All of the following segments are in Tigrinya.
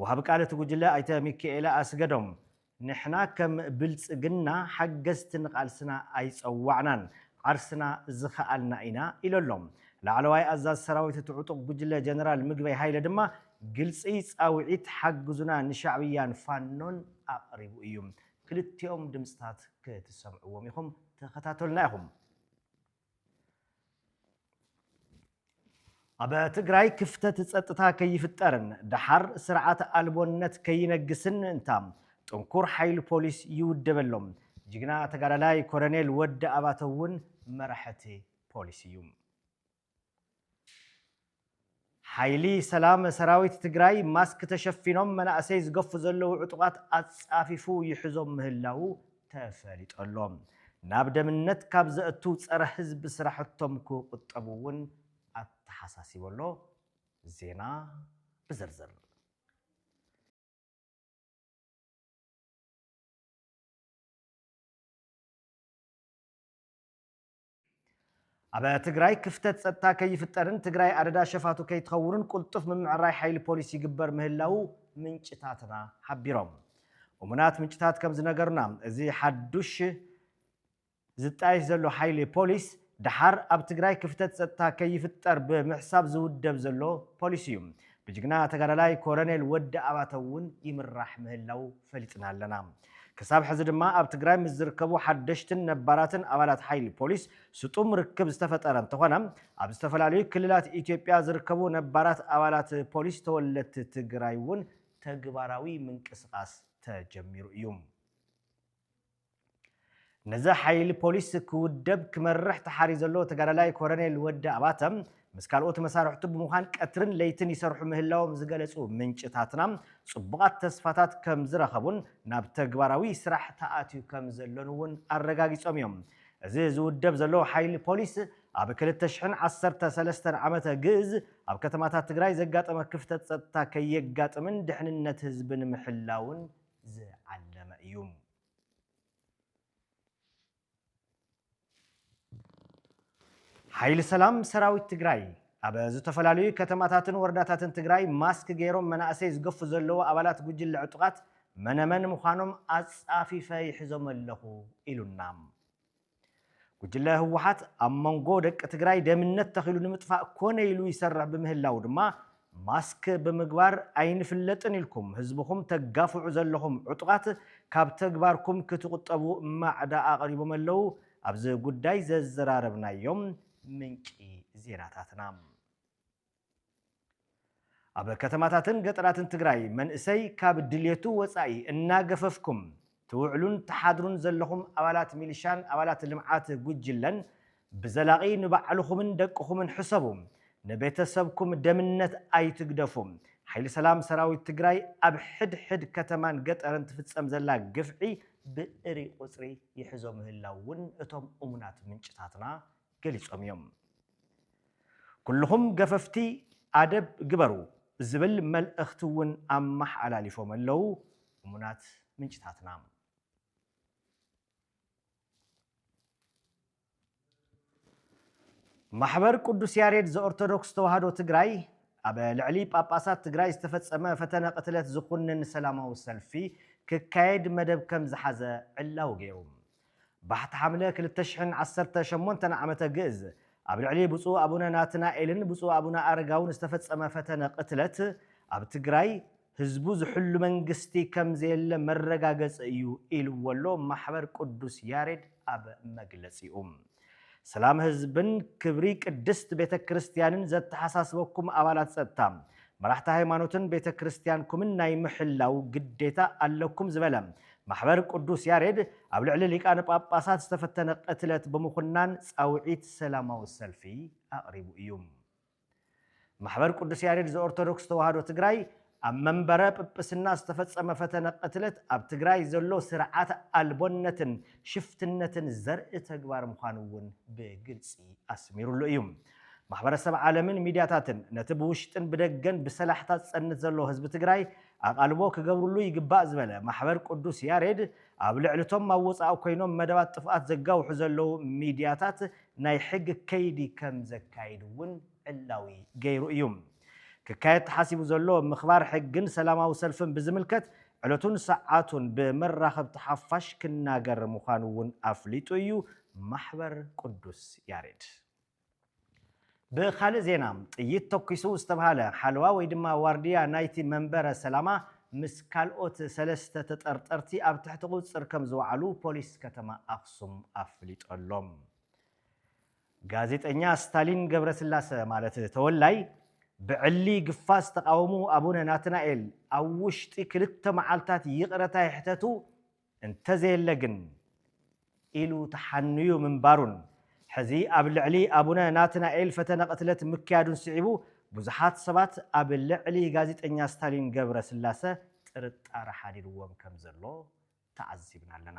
ወሃቢ ቃል እቲ ጉጅለ ኣይተ ሚኪኤለ ኣስገዶም፣ ንሕና ከም ብልፅግና ሓገዝቲ ንቓልስና ኣይፀዋዕናን፣ ዓርስና ዝኸኣልና ኢና ኢሉ ኣሎ። ላዕለዋይ ኣዛዚ ሰራዊት እቲ ዕጡቕ ጉጅለ ጀነራል ምግበይ ሃይለ ድማ ግልፂ ፃውዒት ሓግዙና ንሻዕብያን ፋኖን ኣቕሪቡ እዩ። ክልቲኦም ድምፅታት ክትሰምዕዎም ኢኹም፣ ተኸታተሉና ኢኹም። ኣብ ትግራይ ክፍተት ፀጥታ ከይፍጠርን ደሓር ስርዓት ኣልቦነት ከይነግስን ምእንታም ጥንኩር ሓይሊ ፖሊስ ይውደበሎም። ጅግና ተጋዳላይ ኮረኔል ወዲ ኣባተ እውን መራሕቲ ፖሊስ እዩ። ሓይሊ ሰላም ሰራዊት ትግራይ ማስክ ተሸፊኖም መናእሰይ ዝገፉ ዘለዉ ዕጡቓት ኣፃፊፉ ይሕዞም ምህላዉ ተፈሊጡ ኣሎ። ናብ ደምነት ካብ ዘእቱ ፀረ ህዝቢ ስራሕቶም ክቑጠቡ እውን ኣተሓሳሲቡ ኣሎ። ዜና ብዝርዝር። ኣብ ትግራይ ክፍተት ፀጥታ ከይፍጠርን ትግራይ ኣደዳ ሸፋቱ ከይትኸውንን ቁልጡፍ ምምዕራይ ሓይሊ ፖሊስ ይግበር ምህላዉ ምንጭታትና ሓቢሮም። እሙናት ምንጭታት ከም ዝነገሩና እዚ ሓዱሽ ዝጣየሽ ዘሎ ሓይሊ ፖሊስ ደሓር ኣብ ትግራይ ክፍተት ፀጥታ ከይፍጠር ብምሕሳብ ዝውደብ ዘሎ ፖሊስ እዩ። ብጅግና ተጋዳላይ ኮረኔል ወዲ ኣባተ እውን ይምራሕ ምህላዉ ፈሊጥና ኣለና። ክሳብ ሕዚ ድማ ኣብ ትግራይ ምስ ዝርከቡ ሓደሽትን ነባራትን ኣባላት ሓይሊ ፖሊስ ስጡም ርክብ ዝተፈጠረ እንተኾነ ኣብ ዝተፈላለዩ ክልላት ኢትዮጵያ ዝርከቡ ነባራት ኣባላት ፖሊስ ተወለድቲ ትግራይ እውን ተግባራዊ ምንቅስቓስ ተጀሚሩ እዩ። ነዚ ሓይሊ ፖሊስ ክውደብ ክመርሕ ተሓርዩ ዘሎ ተጋዳላይ ኮረኔል ወዲ ኣባተ ምስ ካልኦት መሳርሕቱ ብምዃን ቀትርን ለይትን ይሰርሑ ምህላዎም ዝገለፁ ምንጭታትና ፅቡቓት ተስፋታት ከምዝረኸቡን ናብ ተግባራዊ ስራሕ ተኣትዩ ከምዘሎን እውን ኣረጋጊፆም እዮም። እዚ ዝውደብ ዘሎ ሓይሊ ፖሊስ ኣብ ክልተ ሽሕን ዓሰርተ ሰለስተን ዓመተ ግእዝ ኣብ ከተማታት ትግራይ ዘጋጠመ ክፍተት ፀጥታ ከየጋጥምን ድሕንነት ህዝቢ ንምሕላውን ዝዓለመ እዩ። ሓይሊ ሰላም ሰራዊት ትግራይ ኣብ ዝተፈላለዩ ከተማታትን ወረዳታትን ትግራይ ማስክ ገይሮም መናእሰይ ዝገፉ ዘለዉ ኣባላት ጉጅለ ዕጡቓት መነመን ምዃኖም ኣፃፊፈ ይሕዞም ኣለኹ ኢሉና። ጉጅለ ህወሓት ኣብ መንጎ ደቂ ትግራይ ደምነት ተኺሉ ንምጥፋእ ኮነ ኢሉ ይሰርሕ ብምህላው ድማ ማስክ ብምግባር ኣይንፍለጥን ኢልኩም ህዝብኹም ተጋፍዑ ዘለኹም ዕጡቓት ካብ ተግባርኩም ክትቑጠቡ ማዕዳ ኣቕሪቦም ኣለው ኣብዚ ጉዳይ ዘዘራረብናዮም ምንጪ ዜናታትና ኣብ ከተማታትን ገጠራትን ትግራይ መንእሰይ ካብ ድልየቱ ወፃኢ እናገፈፍኩም ትውዕሉን ትሓድሩን ዘለኹም ኣባላት ሚሊሻን ኣባላት ልምዓት ጉጅለን ብዘላቒ ንባዕልኹምን ደቅኹምን ሕሰቡ። ንቤተሰብኩም ደምነት ኣይትግደፉ። ሓይሊ ሰላም ሰራዊት ትግራይ ኣብ ሕድ ሕድ ከተማን ገጠርን ትፍፀም ዘላ ግፍዒ ብእሪ ቁፅሪ ይሕዞ ምህላው እውን እቶም እሙናት ምንጭታትና ገሊጾም እዮም። ኩሉኹም ገፈፍቲ ኣደብ ግበሩ ዝብል መልእኽቲ እውን ኣመሓላሊፎም ኣለው እሙናት ምንጭታትና። ማሕበር ቅዱስ ያሬድ ዘኦርቶዶክስ ተዋህዶ ትግራይ ኣብ ልዕሊ ጳጳሳት ትግራይ ዝተፈጸመ ፈተነ ቅትለት ዝኹንን ሰላማዊ ሰልፊ ክካየድ መደብ ከም ዝሓዘ ዕላዊ ገይሩ። ባሕቲ ሓምለ ክልተ ሽሕን ዓሰርተ ሸሞንተን ዓመተ ግእዝ ኣብ ልዕሊ ብፁዕ ኣቡነ ናትናኤልን ብፁዕ ኣቡነ ኣረጋውን ዝተፈጸመ ፈተነ ቅትለት ኣብ ትግራይ ህዝቡ ዝሕሉ መንግስቲ ከምዘየለ መረጋገጺ እዩ ኢልዎ'ሎ ማሕበር ቅዱስ ያሬድ ኣብ መግለጺኡ። ሰላም ህዝብን ክብሪ ቅድስት ቤተ ክርስቲያንን ዘተሓሳስበኩም ኣባላት ፀጥታ፣ መራሕቲ ሃይማኖትን ቤተ ክርስቲያንኩምን ናይ ምሕላው ግዴታ ኣለኩም ዝበለ ማሕበር ቅዱስ ያሬድ ኣብ ልዕሊ ሊቃነ ጳጳሳት ዝተፈተነ ቅትለት ብምኹናን ፃውዒት ሰላማዊ ሰልፊ ኣቕሪቡ እዩ። ማሕበር ቅዱስ ያሬድ ዘኦርቶዶክስ ተዋህዶ ትግራይ ኣብ መንበረ ጵጵስና ዝተፈፀመ ፈተነ ቅትለት ኣብ ትግራይ ዘሎ ስርዓት ኣልቦነትን ሽፍትነትን ዘርኢ ተግባር ምዃኑ እውን ብግልፂ ኣስሚሩሉ እዩ። ማሕበረሰብ ዓለምን ሚድያታትን ነቲ ብውሽጥን ብደገን ብሰላሕታ ዝፀንት ዘሎ ህዝቢ ትግራይ ኣቓልቦ ክገብርሉ ይግባእ ዝበለ ማሕበር ቅዱስ ያሬድ ኣብ ልዕልቶም ኣብ ወፃኢ ኮይኖም መደባት ጥፍኣት ዘጋውሑ ዘለዉ ሚድያታት ናይ ሕጊ ከይዲ ከም ዘካይድ እውን ዕላዊ ገይሩ እዩ። ክካየድ ተሓሲቡ ዘሎ ምኽባር ሕጊን ሰላማዊ ሰልፍን ብዝምልከት ዕለቱን ሰዓቱን ብመራኸብቲ ሓፋሽ ክናገር ምዃኑ እውን ኣፍሊጡ እዩ ማሕበር ቅዱስ ያሬድ። ብኻልእ ዜና፣ ጥይት ተኲሱ ዝተብሃለ ሓለዋ ወይ ድማ ዋርድያ ናይቲ መንበረ ሰላማ ምስ ካልኦት ሰለስተ ተጠርጠርቲ ኣብ ትሕቲ ቁፅፅር ከም ዝወዓሉ ፖሊስ ከተማ ኣኽሱም ኣፍሊጡ ኣሎ። ጋዜጠኛ ስታሊን ገብረስላሰ ማለት ተወላይ ብዕሊ ግፋ ዝተቓወሙ ኣቡነ ናትናኤል ኣብ ውሽጢ ክልተ መዓልታት ይቕረታ ይሕተቱ እንተዘየለ ግን ኢሉ ተሓኑዩ ምንባሩን ሕዚ ኣብ ልዕሊ ኣቡነ ናትናኤል ፈተነ ቅትለት ምክያዱን ስዒቡ ብዙሓት ሰባት ኣብ ልዕሊ ጋዜጠኛ ስታሊን ገብረስላሰ ጥርጣረ ሓዲርዎም ከምዘሎ ተዓዚብና ኣለና።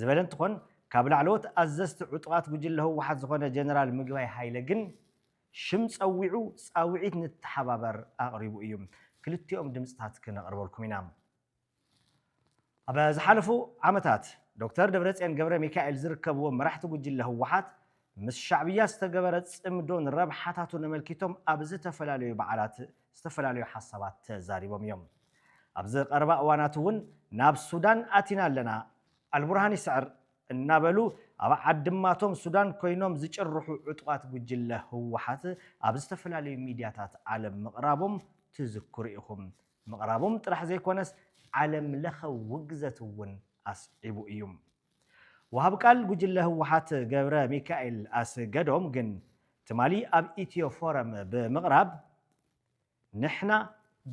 ዝበለ እንትኾን፣ ካብ ላዕለዎት ኣዘዝቲ ዕጡቓት ጉጅለ ህወሓት ዝኾነ ጀነራል ምግባይ ሃይለ ግን ሽም ፀዊዑ ፃውዒት ንተሓባበር ኣቕሪቡ እዩ። ክልቲኦም ድምፅታት ክነቕርበልኩም ኢና። ኣብ ዝሓለፉ ዓመታት ዶክተር ደብረፅዮን ገብረሚካኤል ዝርከብዎም መራሕቲ ጉጅለ ህወሓት ምስ ሻዕብያ ዝተገበረ ፅምዶን ረብሓታቱን ኣመልኪቶም ኣብ ዝተፈላለዩ በዓላት ዝተፈላለዩ ሓሳባት ተዛሪቦም እዮም። ኣብዚ ቀረባ እዋናት እውን ናብ ሱዳን ኣቲና ኣለና፣ ኣልቡርሃን ይስዕር እናበሉ ኣብ ዓድማቶም ሱዳን ኮይኖም ዝጭርሑ ዕጡቓት ጉጅለ ህወሓት ኣብ ዝተፈላለዩ ሚድያታት ዓለም ምቕራቦም ትዝክሩ ኢኹም። ምቕራቦም ጥራሕ ዘይኮነስ ዓለምለኸ ውግዘት እውን ኣስዒቡ እዩ። ወሃቢ ቃል ጉጅለ ህወሓት ገብረሚካኤል ኣስገዶም ግን ትማሊ ኣብ ኢትዮ ፎረም ብምቕራብ ንሕና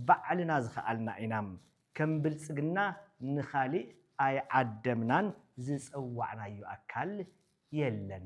ባዕልና ዝኸኣልና ኢና፣ ከም ብልፅግና ንኻሊእ ኣይዓደምናን ዝፀዋዕናዮ ኣካል የለን።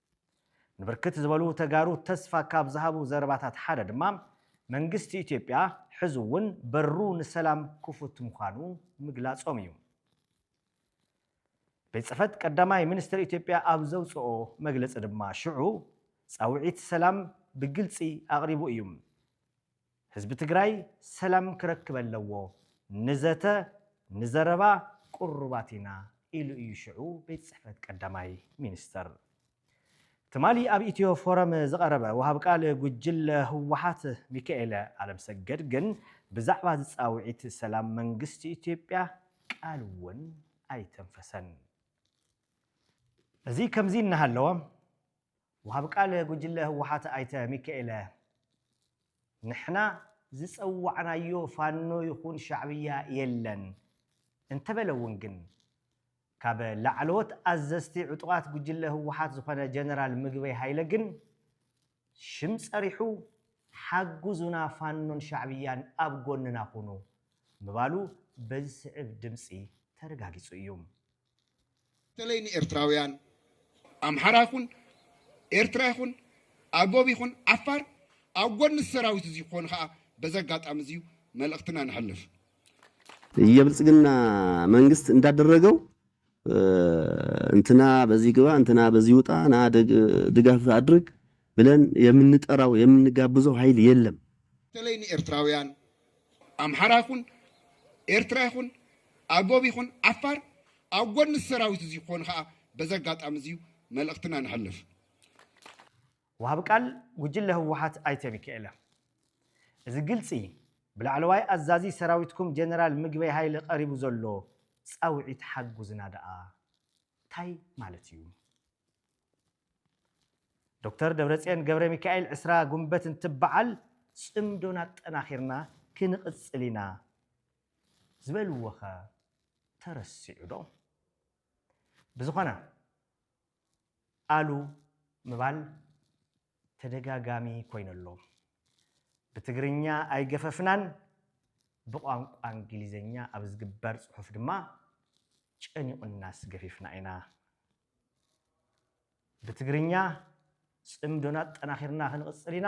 ንብርክት ዝበሉ ተጋሩ ተስፋ ካብ ዝሃቡ ዘረባታት ሓደ ድማ መንግስቲ ኢትዮጵያ ሕዚ እውን በሩ ንሰላም ክፉት ምዃኑ ምግላፆም እዩ። ቤት ፅሕፈት ቀዳማይ ሚኒስትር ኢትዮጵያ ኣብ ዘውፅኦ መግለፂ ድማ ሽዑ ፃውዒት ሰላም ብግልፂ ኣቕሪቡ እዩ። ህዝቢ ትግራይ ሰላም ክረክብ ኣለዎ፣ ንዘተ ንዘረባ ቅሩባት ኢና ኢሉ እዩ ሽዑ ቤት ፅሕፈት ቀዳማይ ሚኒስትር። ትማሊ ኣብ ኢትዮ ፎረም ዝቐረበ ወሃብ ቃል ጉጅለ ህወሓት ሚካኤለ ኣለምሰገድ ግን ብዛዕባ እዚ ፃውዒት ሰላም መንግስቲ ኢትዮጵያ ቃል እውን ኣይተንፈሰን። እዚ ከምዚ እናሃለወ ወሃቢ ቃል ጉጅለ ህወሓት ኣይተ ሚካኤለ ንሕና ዝፀዋዕናዮ ፋኖ ይኹን ሻዕብያ የለን እንተበለ እውን ግን ካብ ላዕለዎት ኣዘዝቲ ዕጡቓት ጉጅለ ህወሓት ዝኾነ ጀነራል ምግበይ ሃይለ ግን ሽም ፀሪሑ ሓጉዙና ፋኖን ሻዕብያን ኣብ ጎንና ኹኑ ምባሉ በዝስዕብ ድምፂ ተረጋጊፁ እዩ። በተለይ ንኤርትራውያን ኣምሓራ ይኹን ኤርትራ ይኹን ኣጎብ ይኹን ዓፋር ኣብ ጎኒ እዚ ሰራዊት እዚ ክኾኑ ከዓ በዚ ኣጋጣሚ እዚ መልእኽትና ነሕልፍ። የብልጽግና መንግስት እንዳደረገው እንትና በዚህ ግባ እንትና በዚህ ውጣ ና ድጋፍ አድርግ ብለን የምንጠራው የምንጋብዘው ሃይል የለም። በተለይ ንኤርትራውያን ኣምሓራ ይኹን ኤርትራ ይኹን ኣጎብ ይኹን ዓፋር ኣብ ጎኒ እዚ ሰራዊት እዚ ክኾኑ ከኣ በዚ ኣጋጣሚ እዚ መልእኽትና ነሕልፍ። ወሃቢ ቃል ጉጅለ ህወሓት ኣይተ ሚካኤለ እዚ ግልፂ ብላዕለዋይ ኣዛዚ ሰራዊትኩም ጀነራል ምግበይ ሃይለ ቀሪቡ ዘሎ ፃውዒት ሓጉዝና ደኣ ታይ ማለት እዩ? ዶክተር ደብረፅዮን ገብረሚካኤል ዕስራ ጉንበት እንትበዓል ፅምዶና ኣጠናኺርና ክንቕፅል ኢና ዝበልዎኸ ተረሲዑ ዶ? ብዝኾነ ኣሉ ምባል ተደጋጋሚ ኮይኑ ኣሎ። ብትግርኛ ኣይገፈፍናን ብቋንቋ እንግሊዝኛ ኣብ ዝግበር ፅሑፍ ድማ ጨኒቑናስ ገፊፍና ኢና። ብትግርኛ ጽምዶና ኣጠናኺርና ክንቕጽል ኢና፣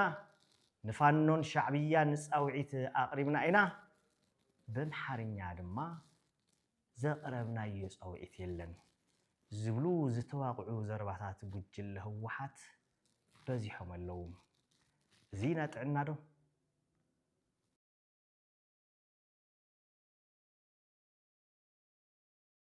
ንፋኖን ሻዕብያን ንጻውዒት ኣቕሪብና ኢና፣ በምሓርኛ ድማ ዘቕረብናዮ ጻውዒት የለን ዝብሉ ዝተዋቕዑ ዘረባታት ጉጅለ ህወሓት በዚሖም ኣለዉ። እዚ ኢና ጥዕናዶ?